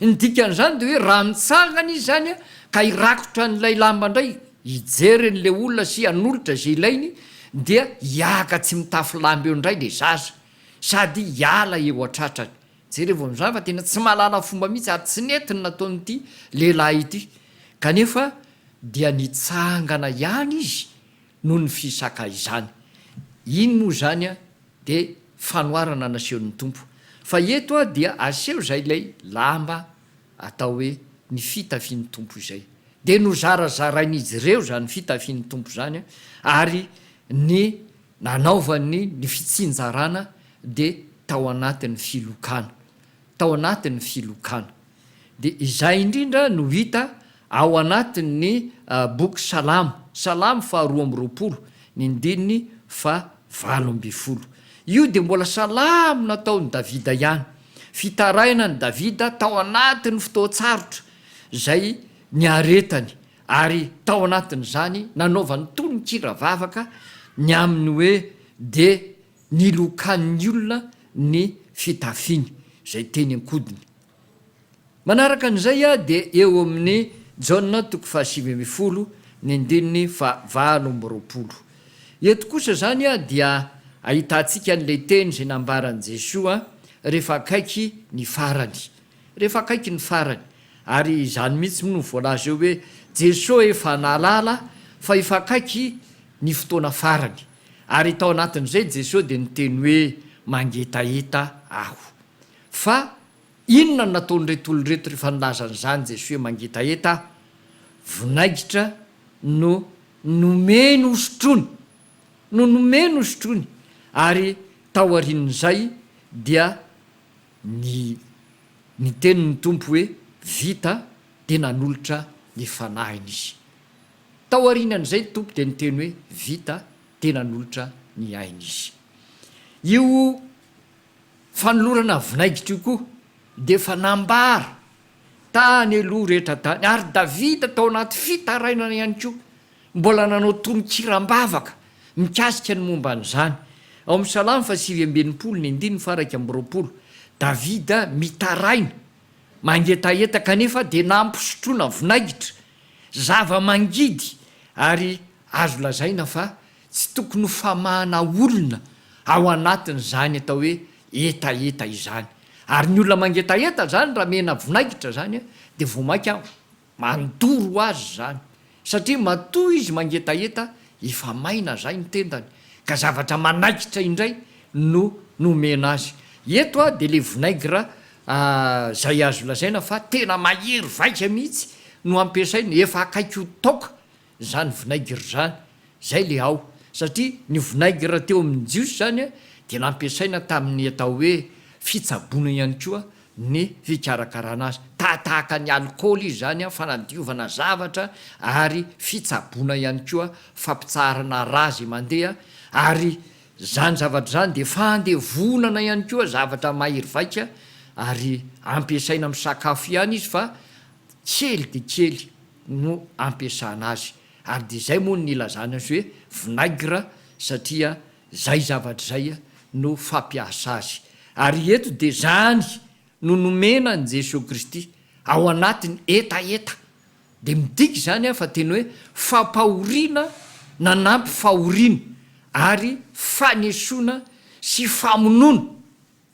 ny dikan'izany dia hoe raha mitsangana izy izany ka hirakotra an'ilay lamba indray hijery an'ilay olona sy hanolotra izay ilainy dia hiahaka tsy mitafy lamba eo indray le zaza sady hiala eo an-tratrany, jerevo amin'izany fa tena tsy mahalala fomba mihitsy ary tsy nety ny nataon'ity lehilahy ity kanefa dia nitsangana ihany izy, noho ny fisaka izany. Iny moa izany dia fanoharana nasehon'ny Tompo. Fa eto dia aseho izay ilay lamba atao hoe ny fitafin'ny Tompo izay. Dia nozarazarain'izy ireo izany fitafin'ny Tompo izany ary ny nanaovany ny fitsinjarana dia tao anatin'ny filokana. Tao anatin'ny filokana. Dia izay indrindra no hita Ao anatin' ny Boky Salamo, Salamo faha roa amby roapolo, ny ndininy faha valo ambin'ny folo. Io dia mbola salamo nataon' i Davida ihany. Fitarainan' i Davida tao anatin' ny fotoan-tsarotra izay niaretany, ary tao anatin' izany nanaovany tononkira vavaka ny amin' ny hoe dia nilokan' ny olona ny fitafiny, izay teny an-kodiny. Manaraka an'izay dia eo amin'ny Jaona toko fahasivy ambin'ny folo ny andininy fahavalo amby roapolo. Eto kosa izany dia ahitantsika an'ilay teny izay nambaran'i Jesoa rehefa akaiky ny farany. Rehefa akaiky ny farany. Ary izany mihitsy no voalaza eo hoe Jesoa efa nahalala fa efa akaiky ny fotoana farany. Ary tao anatin'izay Jesoa dia niteny hoe mangetaheta aho. Fa inona no nataon'ireto olona ireto rehefa nilaza an'izany Jesoa hoe mangetaheta aho? Vinaigitra no nomeny hosotroiny. No nomeny hosotroiny. Ary taorian'izay dia ny niteny ny Tompo hoe vita dia nanolotra ny fanahiny izy. Taorianan'izay ny Tompo dia niteny hoe vita dia nanolotra ny ainy izy. Io Fanolorana vinaigitra io koa dia efa nambara tany aloha rehetra tany ary Davida tao anaty fitarainana ihany koa mbola nanao tononkira am-bavaka mikasika ny momba an'izany. Ao amin'ny Salamo faha sivy amby enimpolo ny andininy faha iraika amby roapolo, Davida mitaraina mangetaheta kanefa dia nampisotroina vinaigitra, zava-mangidy ary azo lazaina fa Tsy tokony ho famahana olona ao anatin'izany atao hoe hetaheta izany. Ary ny olona mangetaheta izany raha mena vinaigitra izany dia vao mainka mandoro ho azy izany. Satria matoa izy mangetaheta efa maina izay ny tendany ka zavatra manaikitra indray no nomena azy. Eto dia ilay vinaigre izay azo lazaina fa tena mahery vaika mihitsy no ampiasaina, efa akaiky ho taoka. zany vinaigre zany zay le ao satria ny vinaigre teo amin'ny jiosy zany dia nampiasaina tamin'ny atao hoe fitsaboana ihany koa ny fikarakarana azy tahatahaka ny alikaoly izy zany fanadiovana zavatra ary fitsaboana ihany koa fampitsaharana rà zay mandeha ary zany zavatra zany dia fandevonana ihany koa zavatra mahery vaika ary ampiasaina amin'ny sakafo ihany izy fa kely dia kely no ampiasana azy ary dia izay moa no nilazana azy hoe vinaigre satria izay zavatra izay no fampiasa azy ary eto dia izany no nomena an'i Jesoa Kristy ao anatin'ny hetaheta dia midika izany fa teny hoe fampahoriana nanampy fahoriana ary fanesoana sy famonoana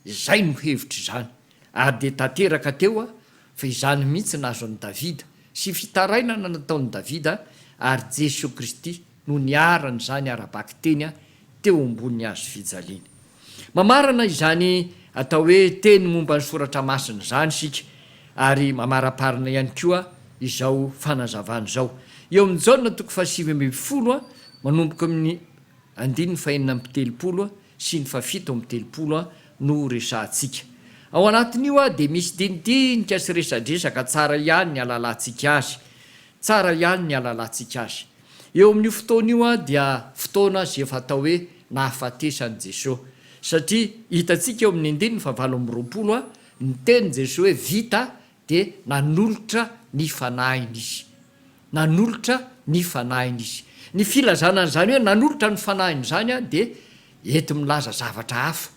Izay no hevitra izany, ary dia tanteraka teo aho fa izany mihitsy no azon'i Davida, sy fitarainana nataon'i Davida, ary Jesoa Kristy no niarany izany ara-bakiteny teo ambonin'ny hazo fijaliany. Mamarana izany atao hoe teny momba ny Soratra Masina izany isika, ary mamaraparina ihany koa izao fanazavana izao, eo amin'ny Jaona toko fahasivy ambin'ny folo, manomboka amin'ny andininy fahenina amby telopolo sy ny fahafito amby telopolo no resahantsika. Ao anatin'io dia misy dinidinika sy resadresaka tsara ihany ny alalantsika azy. Tsara ihany ny alalantsika azy. Eo amin'io fotoana io dia fotoana izay efa atao hoe nahafatesan'i Jesoa. Satria hitantsika eo amin'ny andininy fahavalo amby roapolo ny tenin'i Jesoa hoe vita dia nanolotra ny fanahiny izy. Nanolotra ny fanahiny izy. Ny filazana an'izany hoe nanolotra ny fanahiny izany dia enti-milaza zavatra hafa,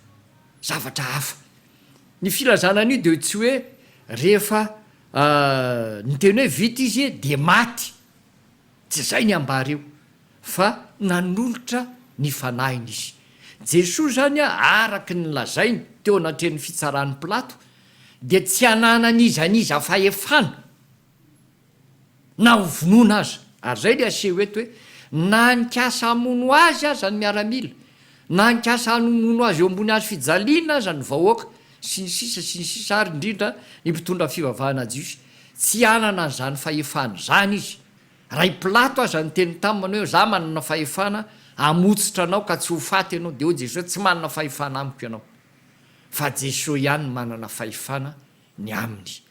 zavatra hafa. Ny filazana an'io dia tsy hoe rehefa niteny hoe vita izy dia maty, tsy izay ny ambara eo, fa nanolotra ny fanahiny izy. Jesoa izany araka ny lazainy teo anatrehan'ny fitsaran'i Pilato dia tsy hananan'iza n'iza fahefana na ho vonoina aza. Ary izay ilay aseho eto hoe, na nikasa hamono azy aza ny miaramila, na nikasa hanomono azy eo ambony hazo fijaliana aza ny vahoaka, sy ny sisa sy ny sisa, ary indrindra ny mpitondra fivavahana jiosy, tsy hanana an'izany fahefana izany izy. Raha i Pilato aza niteny taminy hoe, Izaho manana fahefana hamotsitra anao ka tsy ho faty ianao, dia hoy Jesosy hoe, Tsy manana fahefana amiko ianao. fa Jesoa ihany no manana fahefana ny aminy.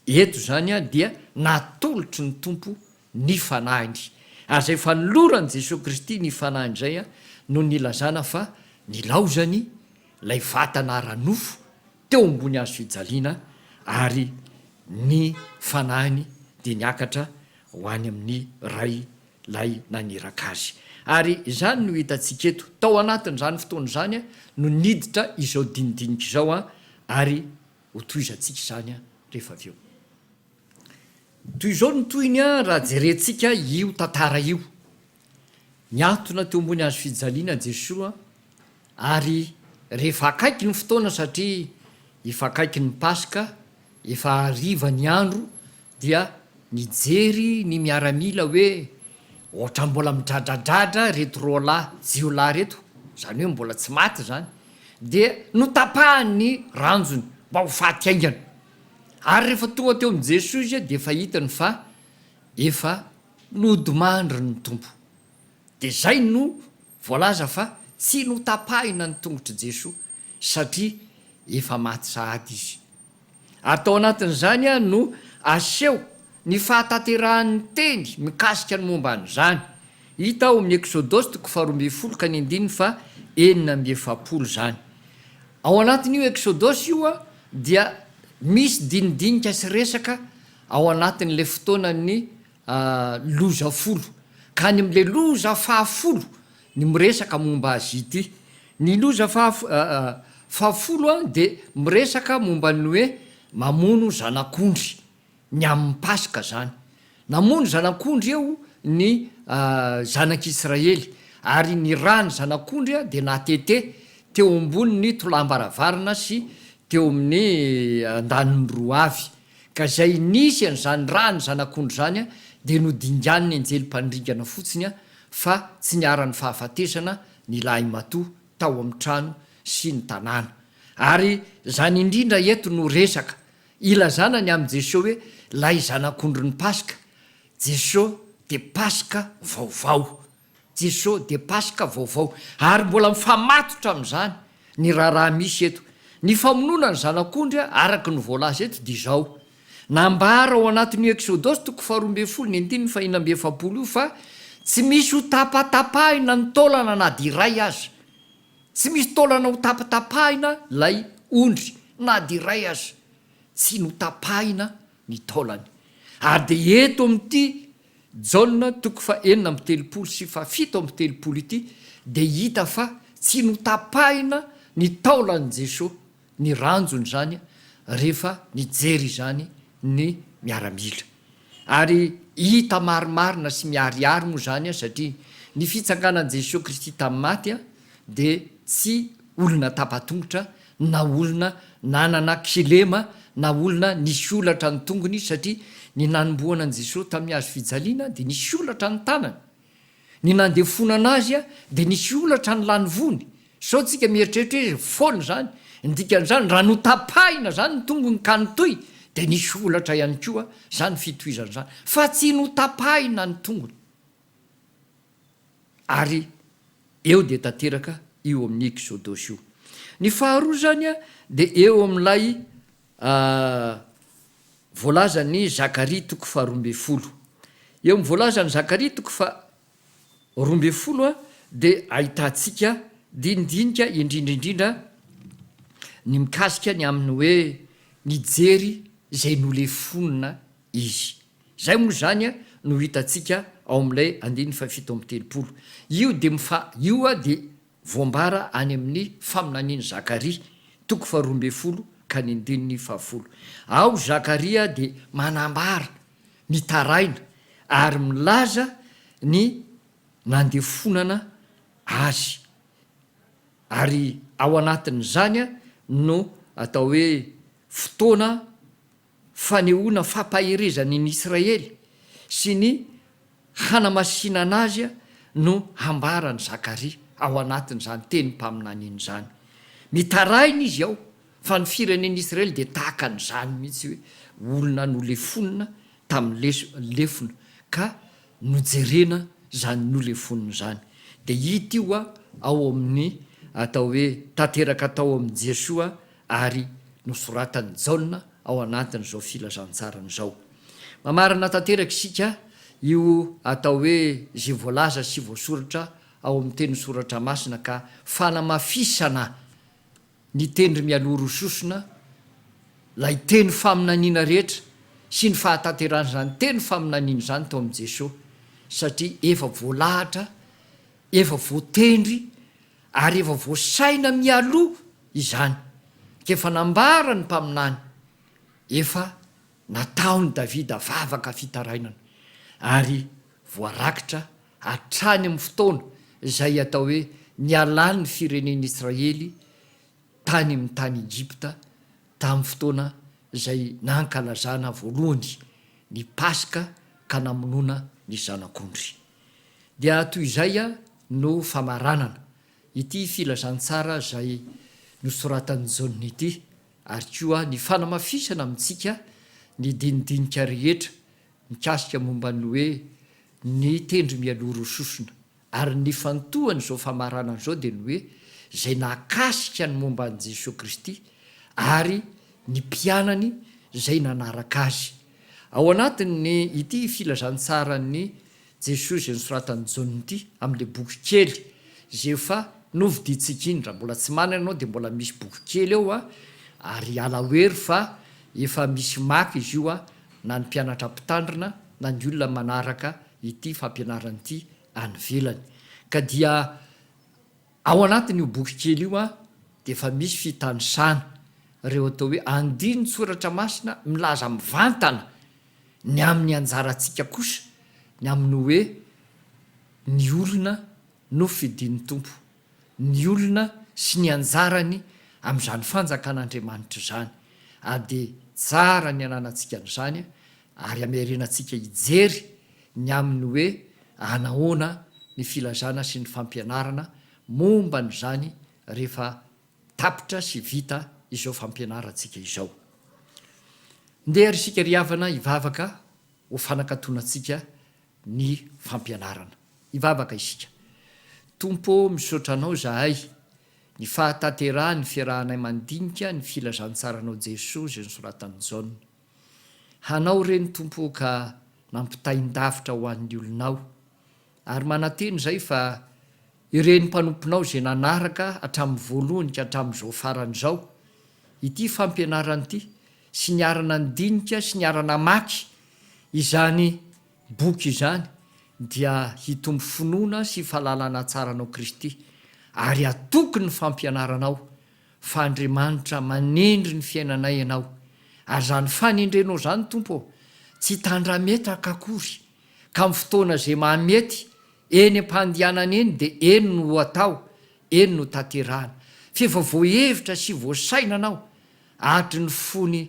Eto izany dia natolotry ny Tompo ny fanahiny, ary izay fanoloran'i Jesoa Kristy ny fanahiny izay no nilazana fa nilaozany ilay vatana ara-nofo teo ambony hazo fijaliana, ary ny fanahiny dia niakatra ho any amin'ny Ray Ilay naniraka azy. Ary izany no hitantsika eto. Tao anatin'izany fotoana izany no niditra izao dinidinika izao, ary hotohizantsika izany rehefa avy eo. Toy izao ny tohiny raha jerentsika io tantara io. Niantona teo ambony hazo fijaliana Jesoa. Ary rehefa akaiky ny fotoana satria efa akaiky ny Paska, efa hariva ny andro dia nijery ny miaramila hoe ohatran'ny mbola midradradradra reto roalahy jiolahy reto, izany hoe mbola tsy maty izany, dia notapahany ny ranjony mba ho faty haingana. Ary rehefa tonga teo amin'i Jesoa izy dia efa hitany fa efa nodimandry ny Tompo. Dia izay no voalaza fa tsy notapahina ny tongotr'i Jesoa satria efa maty sahady Izy. Ary tao anatin'izany no aseho ny fahatanterahan'ny teny mikasika ny momba an'izany. Hita ao amin'ny Eksodosy toko faharoa ambin'ny folo ka ny andininy faha enina amby efapolo izany. Ao anatin'io Eksodosy io dia misy dinidinika sy resaka ao anatin'ilay fotoanan'ny A loza folo. Ka any amin'ilay loza fahafolo ny miresaka momba azy ity. Ny loza fahafolo dia miresaka momba ny hoe mamono zanak'ondry, ny amin'ny Paska izany. Namono zanak'ondry eo ny zanak'Israely, ary ny ran'ny zanak'ondry dia natete teo ambonin'ny tolàm-baravarana sy teo amin'ny andaniny roa avy. Ka izay nisy an'izany ràn'ny zanak'ondry izany dia nodinganin'ny anjely mpanringana fotsiny fa tsy niharan'ny fahafatesana ny lahimatoa tao amin'ny trano sy ny tanàna. Ary izany indrindra eto no resaka, ilazana ny amin'i Jesoa hoe ilay zanak'ondrin'ny Paska, Jesoa dia Paska vaovao. Jeso dia Paska vaovao. Ary mbola mifamatotra amin'izany ny raharaha misy eto. Ny famonoana ny zanak'ondry araka ny voalaza eto dia izao. Nambara ao anatin'io Eksodosy toko faharoa ambin'ny folo ny andininy fahina amby efapolo io fa tsy misy ho tapatapahina ny taolana na dia iray aza. Tsy misy taolana ho tapatapahina ilay ondry na dia iray aza tsy notapahina ny taolany. Ary dia eto amin'ity Jaona toko fahenina amby telopolo sy fahafito amby telopolo ity dia hita fa tsy notapahina ny taolan'i Jeso ny ranjon'izany rehefa nijery izany ny miaramila. Ary hita marimarina sy miharihary moa izany satria ny fitsanganan'i Jeso Kristy tamin'ny maty dia tsy olona tapa-tongotra na olona nanana kilema na olona nisy olatra ny tongony satria ny nanombohana an'i Jesosy tamin'ny hazo fijaliana dia nisy olatra ny tanany, ny nandefonana azy dia nisy olatra ny lanivony, sao tsika mieritreritra hoe foana izany, ny dikan'izany raha notapahina izany ny tongony ka nitohy dia nisy olatra ihany koa izany fitohizana izany fa tsy notapahina ny tongony. Ary eo dia tanteraka io amin'ny Eksodosy io. Ny faharoa izany dia eo amin'ilay voalazan'i Zakaria toko faharoa ambin'ny folo. Eo amin'ny voalazan'i Zakaria toko faharoa ambin'ny folo dia ahitantsika dinidinika indrindra indrindra ny mikasika ny amin'ny hoe nijery izay nolefonina izy. Izay moa izany no hitantsika ao amin'ilay andininy fahafito amby telopolo. Io dia mifa io dia voambara any amin'ny faminanian'i Zakaria, toko faharoa ambin'ny folo ka ny andininy fahafolo. Ao Zakaria dia manambara, mitaraina ary milaza ny nandefonana azy. Ary ao anatin'izany no atao hoe fotoana. fanehoana fampaherezany an'i Israely sy ny hanamasinana azy no hambaran'i Zakaria ao anatin'izany tenim-paminaniana izany. Mitaraina izy ao fa ny firenen'i Israely dia tahaka an'izany mihitsy hoe olona nolefonina tamin'ny lefona ka nojerena izany nolefonina izany. Dia hita io ao amin'ny atao hoe tanteraka tao amin'i Jesoa Ary nosoratan'i Jaona ao anatin'izao filazantsarany izao. Mamarana tanteraka isika io atao hoe izay voalaza sy voasoratra ao amin'ny teny Soratra Masina ka fanamafisana ny teny mialoha rososona ilay teny faminaniana rehetra sy ny fahatanteran'izany teny faminaniana izany tao amin'i Jesoa satria efa voalahatra, efa voatendry Ary efa voasaina mialoha izany, ka efa nambara ny mpaminany, efa nataon'i Davida vavaka fitarainana, ary voarakitra hatrany amin'ny fotoana izay atao hoe nialan'ny firenen'i Israely tany amin'ny tany Egypta, tamin'ny fotoana izay nankalazana voalohany ny Paska ka namonoana ny zanak'ondry. Dia toy izay no famaranana ity filazantsara izay nosoratan'i Jaona ity, ary koa ny fanamafisana amintsika ny dinidinika rehetra mikasika momba ny hoe ny tendry mialoha rososona. Ary ny nifantohan'izao famaranana izao dia ny hoe izay nakasika ny momba an'i Jesoa Kristy ary ny mpianany izay nanaraka Azy. Ao anatin' ity filazantsaran' i Jesoa izay nosoratan' i Jaona ity, amin' ilay boky kely izay efa novidintsika iny, raha mbola tsy manana ianao dia mbola misy boky kely eo a, ary hiala wery fa efa misy maka izy io a, na ny mpianatra mpitandrina na ny olona manaraka ity fampianarana ity any ivelany. Ka dia. Ao anatin' io boky kely io dia efa misy fitanisana ireo atao hoe andinin-tsoratra masina milaza mivantana ny amin' ny anjarantsika kosa ny amin' ny hoe ny olona no fidin' ny Tompo, ny olona sy ny anjarany amin' izany fanjakan' Andriamanitra izany. AD, Tsara ny ananantsika an' izany ary ameriana antsika hijery ny amin'ny hoe anahoana ny filazana sy ny fampianarana momba an'izany rehefa tapitra sy vita izao fampianarantsika izao. Ndeha ary isika ry havana hivavaka ho fanakatona antsika ny fampianarana. Hivavaka isika. Tompo ô, misaotra Anao izahay, ny fahatanterahan'ny fiarahanay mandinika ny filazantsaranao Jesoa izay nosoratan'i Jaona. Hanao ireny Tompo ô ka nampitain-davitra ho an'ny olonao. Ary manantena izay fa ireny mpanomponao izay nanaraka hatramin'ny voalohany ka hatramin'izao farany izao ity fampianarana ity sy niara-nandinika sy niara-namaky izany boky izany dia hitombo finoana sy fahalalana tsara anao Kristy ary hatoky ny fampianaranao fa Andriamanitra manendry ny fiainanay Ianao, ary izany fanendrenao izany, Tompo ô, tsy tandrametaka akory, ka amin'ny fotoana izay mahamety, eny am-pandianana eny dia eny no ho atao, eny no tanterahana, f'efa voahevitra sy voasaina Anao, hatry ny fony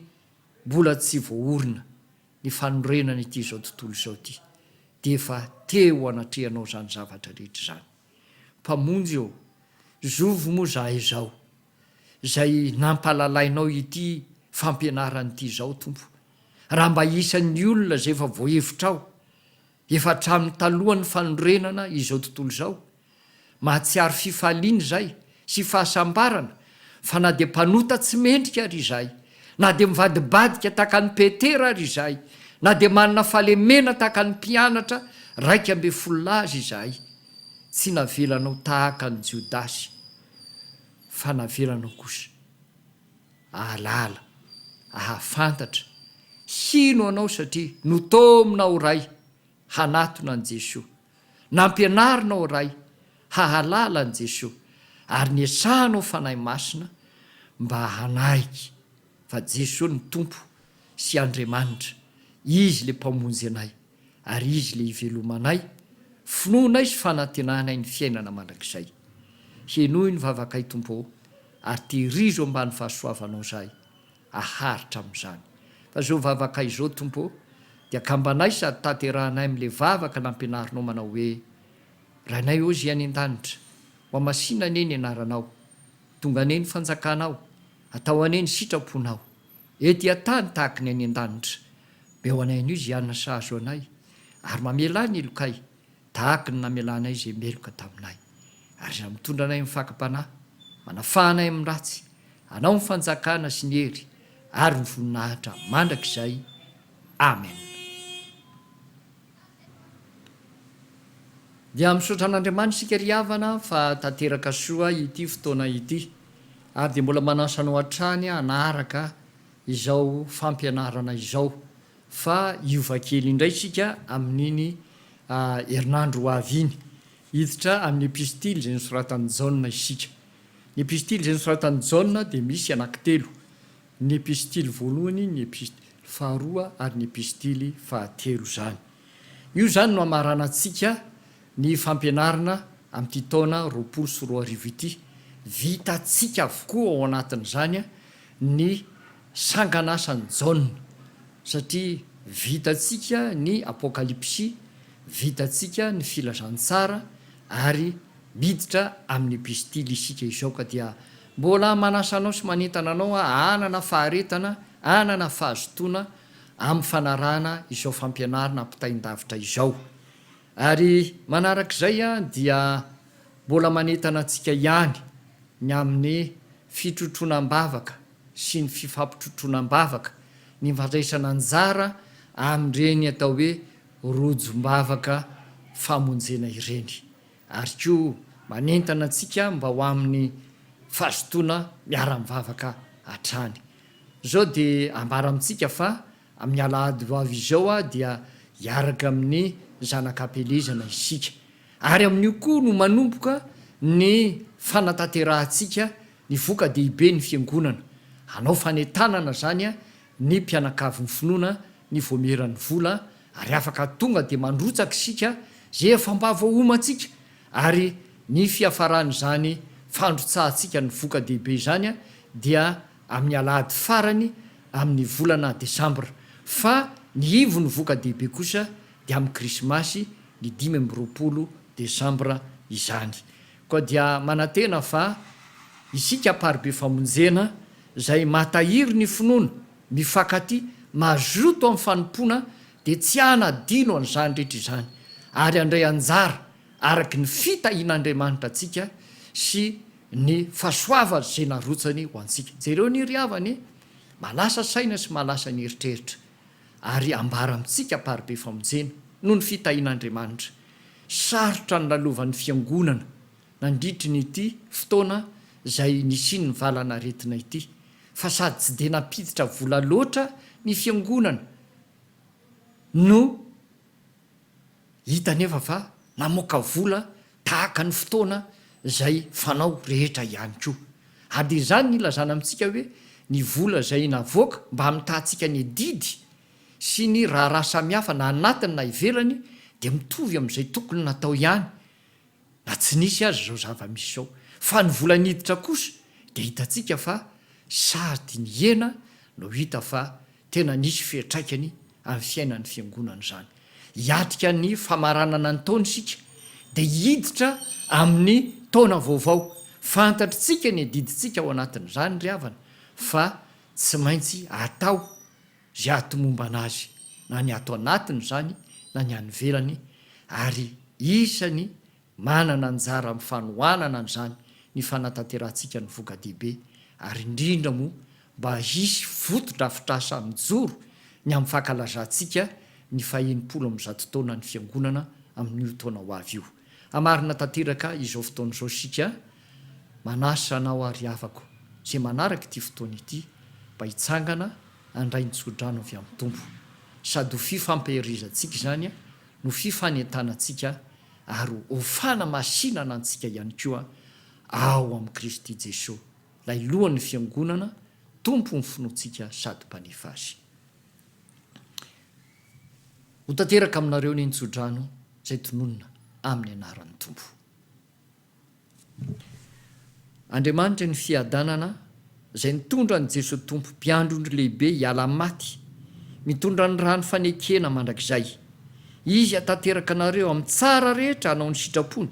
mbola tsy voaorina ny fanorenana ity izao tontolo izao ity, dia efa teo anatrehanao izany zavatra rehetra izany. Mpamonjy ô, zovy moa izahay izao, izay nampahalalainao ity fampianarana ity izao, Tompo. Raha mba isan'ny olona izay efa voahevitrao, efa hatramin'ny talohan'ny fanorenana izao tontolo izao, mahatsiaro fifaliana izay sy fahasambarana, fa na dia mpanota tsy mendrika ary izahay, na dia mivadibadika tahaka an'i Petera ary izahay, na dia manana fahalemena tahaka ny mpianatra raika ambin'ny folo lahy aza izahay, tsy navelanao tahaka an'i Jodasy, fa navelanao kosa ahalala, ahafantatra, hino anao satria notominao Ray hanatona an'i Jesoa. Nampianarinao Ray hahalala an'i Jesoa ary niesahanao Fanahy Masina mba hanaiky fa Jesoa no Tompo sy Andriamanitra, Izy le Mpamonjy anay ary Izy le ivelomanay, finoanay sy fanantenanay ny fiainana mandrakizay. Henoy ny vavakay Tompo ô ary tehirizo ambany fahasoavanao zahay. haharitra amin'izany. Fa izao vavaka izao, Tompo ô, dia kambanay sady tanterahanay amin'ilay vavaka nampianarinao manao hoe, Rainay ô Zay any an-danitra, ho hamasina anie ny anaranao. Tonga anie ny fanjakanao. Atao anie ny sitraponao. Ety an-tany tahaka ny any an-danitra. Meo anay anio izay hanana sazy ho anay, ary mamelà ny helokay. Tahaka ny namelanay izay meloka taminay, ary izay mitondra anay amin'ny fakam-panahy, manafaha anay amin'ny ratsy, Anao ny fanjakana sy ny hery ary ny voninahitra mandrakizay. Amen. Dia misaotra an'Andriamanitra isika ry havana fa tanteraka soa ity fotoana ity, ary dia mbola manasa anao hatrany hanaraka izao fampianarana izao fa hiova kely indray isika amin'iny herinandro ho avy iny. Hiditra amin'ny epistily izay nosoratan'i Jaona isika. Ny epistily izay nosoratan'i Jaona dia misy anankitelo, ny epistily voalohany, ny epistily faharoa ary ny epistily fahatelo izany. Io izany no hamaranantsika ny fampianarana amin'ity taona roapolo sy roa arivo ity. Vitantsika avokoa ao anatin'izany ny. Sanganasan'i Jaona, satria vitantsika ny Apokalypsy, vitantsika ny Filazantsara, ary miditra amin'ny Pistily isika izao, ka dia mbola manasa anao sy manentana anao hanana faharetana, hanana fahazotoana amin'ny fanarahana izao fampianarana ampitain-davitra izao. Ary manarak'izay dia mbola manentana antsika ihany ny amin'ny fitrotroana am-bavaka, sy ny fifampitrotroana am-bavaka ny fandraisana anjara amin'ireny atao hoe rojom-bavaka famonjena ireny ary koa manentana antsika mba ho amin'ny fazotoana miara-mivavaka hatrany. Izao dia ambara amintsika fa amin'ny alahady ho avy izao dia hiaraka amin'ny zanak'ampielezana isika ary amin'io koa no manomboka ny fanatanterahantsika Ny voka dehibe ny fiangonana hanao fanentanana zany ny mpianakavy ny finoana ny voamieran'ny vola ary afaka tonga dia mandrotsaka isika zay efa mba voahomantsika ary ny fiafaran'izany fandrotsahantsika ny voka dehibe izany dia amin'ny alahady farany amin'ny volana desambra fa ny ivon'ny voka dehibe kosa dia amin'ny krisimasy ny dimy amby roapolo desambra izany Koa dia manantena fa isika Amparibe Famonjena izay mahatahiry ny finoana, mifankatia, mazoto amin'ny fanompoana dia tsy hanadino an'izany rehetra izany ary handray anjara araka ny fitahian'Andriamanitra antsika sy ny fahasoavany izay narotsany ho antsika. Jereo anie ry havana e! Malasa saina sy malasa ny eritreritra ary ambara amintsika Amparibe Famonjena noho ny fitahian'Andriamanitra sarotra nilalovan' ny Fiangonana nandritry ny ity fotoana izay nisian' ny valan'aretina ity, fa sady tsy dia nampiditra vola loatra ny Fiangonana no hita anefa fa namoaka vola tahaka ny fotoana izay fanao rehetra ihany koa. Ary dia izany no ilazana amintsika hoe ny vola izay navoaka mba hamitahantsika ny adidy sy ny raharaha samihafa na anatiny na ivelany dia mitovy amin'izay tokony natao ihany na tsy nisy aza izao zava-misy izao. Fa ny vola niditra kosa dia hitantsika fa sady nihena no hita fa tena nisy fiantraikany amin'ny fiainan'ny fiangonana izany. Hiatrika ny famaranana ny taona isika dia hiditra amin'ny taona vaovao. Fantatr'tsika ny adidintsika ao anatin'izany ry havana fa Tsy maintsy atao izay hahatomombana azy, na ny ato anatiny izany na ny any ivelany, ary isan'ny manana anjara amin'ny fanohanana an'izany ny fanatanterahantsinka ny voka-dehibe, ary indrindra moa mba hisy fotodrafitrasa mijoro ny amin'ny fankalazantsika ny fahenimpolo amby zato taonan'ny Fiangonana amin'io taona ho avy io. Hamarina tanteraka izao fotoana izao isika, Manasa anao àry havako izay manaraka ity fotoana ity mba hitsangana handray ny tsodrano avy amin'ny Tompo. Sady ho fifampiherizantsika izany no fifanentanantsika ary ho fanamasinana antsika ihany koa ao amin'i Kristy Jesoa, ilay Lohan'ny Fiangonana, Tompon'ny finoantsika sady Mpanefy azy. Ho tanteraka aminareo anie ny tsodrano izay tononina amin'ny anaran'ny Tompo. Andriamanitry ny fiadanana izay nitondra an'i Jesoa Tompo Mpiandrondry lehibe hiala amin'ny maty, mitondra ny rany fanekena mandrakizay. Izy hatanteraka anareo amin'ny tsara rehetra hanao ny sitrapony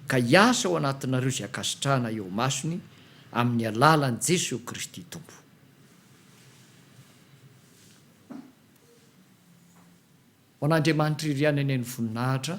ka hiasa ao anatinareo izay ankasitrahana eo imasony amin'ny alalan'i Jesoa Kristy Tompo. Ho an'Andriamanitra irery any anie ny voninahitra.